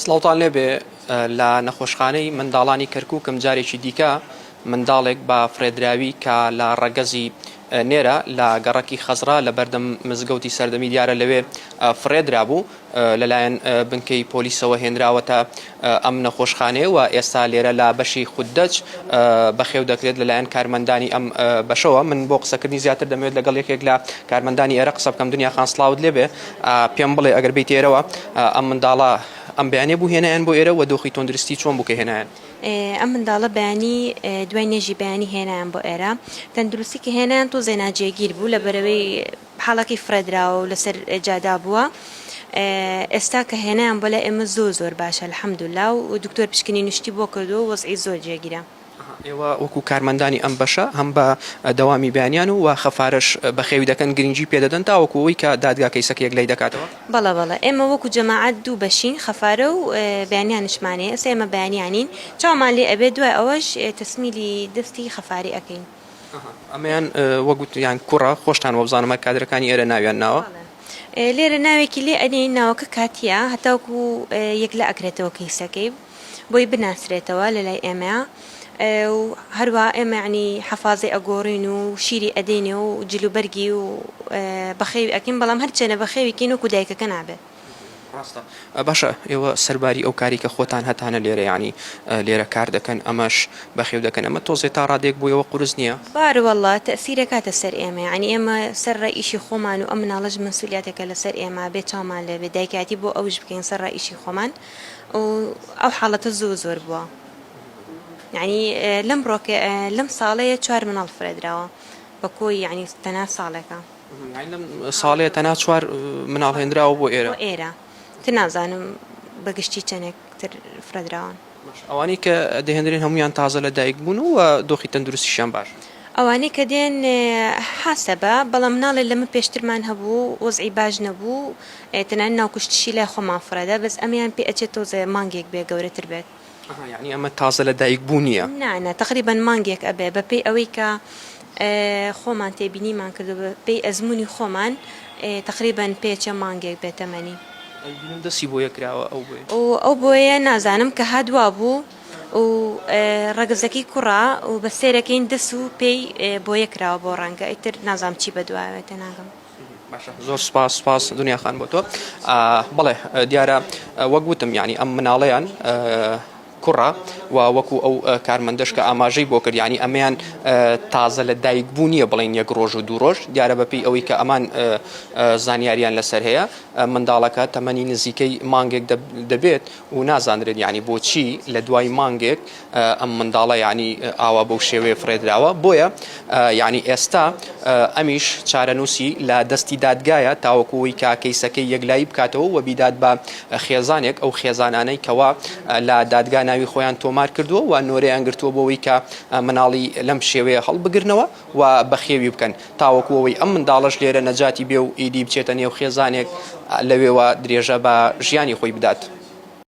سڵاوتان لێبێ لە نەخۆشخانەی منداڵانی کەرکووکم جارێکی دیکە منداڵێک بە فڕێدراوی کە لە ڕەگەزی نێرە لە گەڕەکی خەزرا لە بەردەم مزگەوتی سەردەمی دیارە لەوێ فڕێدرا بوو لەلایەن بنکەی پۆلیسەوە هێنراوەتە ئەم نەخۆشخانەیە و ئێستا لێرە لە بەشی خوددەچ بەخێو دەکرێت لەلایەن کارمەندانی ئەم بەشەوە من بۆ قسەکردنی زیاتر دەمەوێت لەگەڵ یەکێک لە کارمەندانی ئێرە قسە بکەم دنیا خان سڵاوت لێبێ پێم بڵێ ئەگەر بێیتە ئێرەوە ئەم منداڵە ئەم بەیانیە بوو هێنایان بۆ ئێرە و دۆخی تۆندرستی چۆن بوو کە هێنایان؟ ئەم منداڵە بەیانی دوای نوێژی بەیانی هێنایان بۆ ئێرە تەندروستی کە هێنایان تۆزێ ناجێگیر بوو لەبەرەوەی حاڵەکەی فرێدراوە و لەسەر جادا بووە ئێستا کە هێنایان بۆ لای ئێمە زۆر زۆر باشە الحمدللە و دکتۆر پشکنینی شتی بۆ کردووە و وەزعی زۆر جێگیرە. ئێوە وەکو کارمەندانی ئەم بەشە هەم بە دەوامی بەیانیان و وە خەفارەش بەخێوی دەکەن گرنگی پێدەدەن تاوەکو ئەوەی کە دادگا کەیسەکە یەکلایی دەکاتەوە؟ بەڵێ بەڵێ ئێمە وەکو جەماعەت دوو بەشین خەفارە و بەیانیانشمان هەیە ئێستا ئێمە بەیانیانین چاومان لێ ئەبێت دوای ئەوەش تەسمیلی دەستی خەفاری ئەکەین. ئەمەیان وە گوتیان کوڕە خۆشتان وەبزانم کادرەکانی ئێرە ناویان ناوە؟ بەڵێ لێرە ناوێکی لێ ئەنێین ناوەکە کاتیە هەتاوەکو یەکلا ئەکرێتەوە کەیسەکەی. بۆی بناسرێتەوە لە لای ئێمەیا و هەروا ئێمە عنی حەفازەی ئەگۆڕین و شیری ئەدەینێ و جلوبەرگی و بەخێوی ئەکەین بەڵام هەرچێنە بەخێویکەین وەکو دایکەکە نابێت ڕاستە باشە ئێوە سەرباری ئەو کاری کە خۆتان هەتانە لێرە ینی لێرە کار دەکەن ئەمەش بەخێو دەکەن ئەمە تۆزێ تا ڕادێک بوو ئەوە قرس نییە باروەله تەسیرەکاتە سەر ئێمە ینی ئێمە سەر ڕای ئیشی خۆمان و ئەم مناڵەش مسولیاتێکە لەسەر ئێمە بێ چامان لێبێ دایکاتی بۆ ئەوش بکەین سەر ڕای ئیشی خۆمان و ئەو حاڵەتە زۆر زۆر بووە یعنی لەم ڕۆکە لەم ساڵەیە چوار مناڵ فرێدراوە بە کۆی یعنی تەنا ساڵێکە ساڵێ تەنا چوار مناڵ هێنراوە بۆ ئێرە ئێرە تر نازانم بەگشتی چەندێک تر فرەدراون ئەوانەی کە دەهێنرێن هەمویان تازە لە دایک بوون و دۆخی تەندروستیشان باش ئەوانەی کە دێن حاسەبە بەڵام ناڵێ لەمە پێشترمان هەبوو وەزعی باش نەبوو تەنانەت ناوکوشتشی لای خۆمان فڕێدا بەس ئەمەیان پێ ئەچێت تۆزێ مانگێک بێ گەورەتر بێت. ئەها یەعنی ئەمە تازە لە دایک بوونیە. نا نا تەقریبەن مانگێک ئەبێ بە پێی ئەوەی کە خۆمان تێبینیمان کردوە بە پێی ئەزموونی خۆمان تەقریبەن پێ ئەچێ مانگێک بێ تەمەنی. ئەی بینم دەستی بۆیە کراوە ئەو بۆیە. ئەو بۆیە نازانم کە هات وابوو. و ڕەگەزەکەی کوڕە و بە سێرەکەین دەس و پێی بۆیە کراوە بۆ ڕەنگە ئیتر نازام چی بەدوایەوە تێناگەم. زۆر سپاس سپاس دنیا خان بۆ تۆ بڵێ دیارە وەک وتم ینی ئەم مناڵەیان کوڕە و وەکو ئەو کارمەندەش کە ئاماژەی بۆ کردیانی ئەمەیان تازە لە دایک بوو نییە بڵین یەک ڕۆژ و دوو ڕۆژ دیارە بەپی ئەوەی کە ئەمان زانیاریان لەسەر هەیە منداڵەکە تەمەنی نزیکەی مانگێک دەبێت و نازانرێت یانی بۆچی لە دوای مانگێک ئەم منداڵە یانی ئاوا بەو شێوەیە فرێدراوە بۆیە یانی ئێستا ئەمیش چارەنووسی لە دەستی دادگایە تاوەکوی کە کەیسەکەی یەکلایی بکاتەوە و بیدات بە خێزانێک ئەو خێزانانەی کەوا لە دادگا ناوی خۆیان تۆمار کردووە و نۆرەیان گرتووە بۆەوەی کە مناڵی لەم شێوەیە هەڵبگرنەوە و بەخێوی بکەن تاوەکو ئەوەی ئەم منداڵەش لێرە نەجاتی بێ و ئیدی بچێتە نێو خێزانێک لەوێوە درێژە بە ژیانی خۆی بدات.